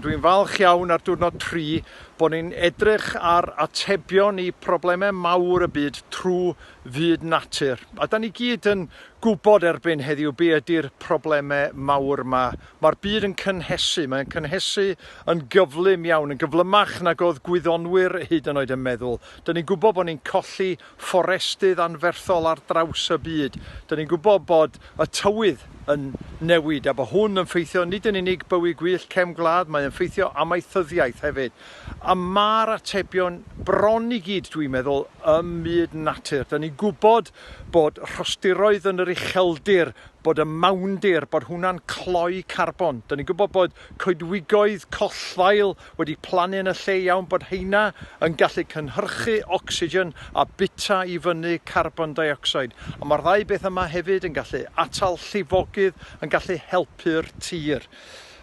Dwi'n falch iawn ar diwrnod tri bod ni'n edrych ar atebion i problemau mawr y byd trwy fyd natur. A da ni gyd yn gwybod erbyn heddiw be ydy'r problemau mawr yma. Mae'r byd yn cynhesu, mae'n cynhesu yn gyflym iawn, yn gyflymach nag oedd gwyddonwyr hyd yn oed yn meddwl. Da ni'n gwybod bod ni'n colli fforestydd anferthol ar draws y byd. Dyn ni'n gwybod bod y tywydd yn newid a bod hwn yn ffeithio nid yn unig bywyd gwyllt cefn gwlad, mae yn ffeithio amaethyddiaeth hefyd. A mae'r atebion bron i gyd, dwi'n meddwl, ym myd natur. Dyn ni'n gwybod bod rhostiroedd yn yr ucheldir, bod y mawndir, bod hwnna'n cloi carbon. Dyn ni'n gwybod bod coedwigoedd collddail wedi plannu yn y lle iawn bod heina yn gallu cynhyrchu ocsigen a bwyta i fyny carbon deuocsid, ond mae'r ddau beth yma hefyd yn gallu atal llifogydd, yn gallu helpu'r tir.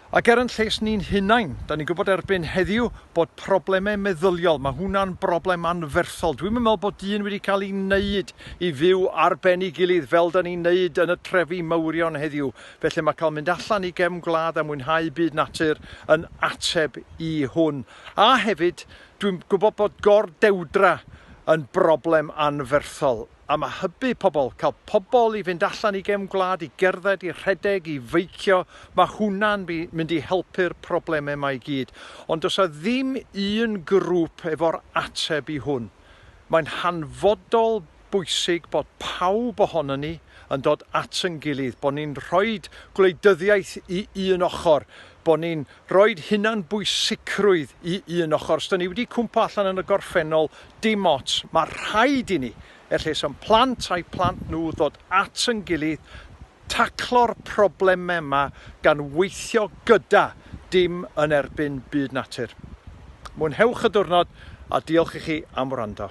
Ac er yn lles ni'n hunain, da ni'n gwybod erbyn heddiw bod problemau meddyliol, mae hwnna'n broblem anferthol. Dwi'm yn meddwl bod dyn wedi cael ei wneud i fyw ar ben ei gilydd fel da ni'n wneud yn y trefi mawrion heddiw, Felly mae cael mynd allan i gefn gwlad a mwynhau byd natur yn ateb i hwn. A hefyd, dwi'n gwybod bod gor-dewdra yn broblem anferthol, a mae hybu pobl, cael pobl i fynd allan i gefn gwlad, i gerdded, i rhedeg, i feicio, mae hwnna'n mynd i helpu'r problemau yma i gyd. Ond does a ddim un grŵp efo'r ateb i hwn. Mae'n hanfodol bwysig bod pawb ohonon ni yn dod at yn gilydd, bod ni'n rhoi gwleidyddiaeth i un ochr, bod ni'n rhoi hunan bwysicrwydd i un ochr. Os da ni wedi cwmpo allan yn y gorffennol, dim ots, mae rhaid i ni, er lles o'n plant a'i plant nhw, ddod at yn gilydd, taclo'r problemau yma gan weithio gyda, dim yn erbyn byd natur. Mwynhewch y diwrnod a diolch i chi am wrando.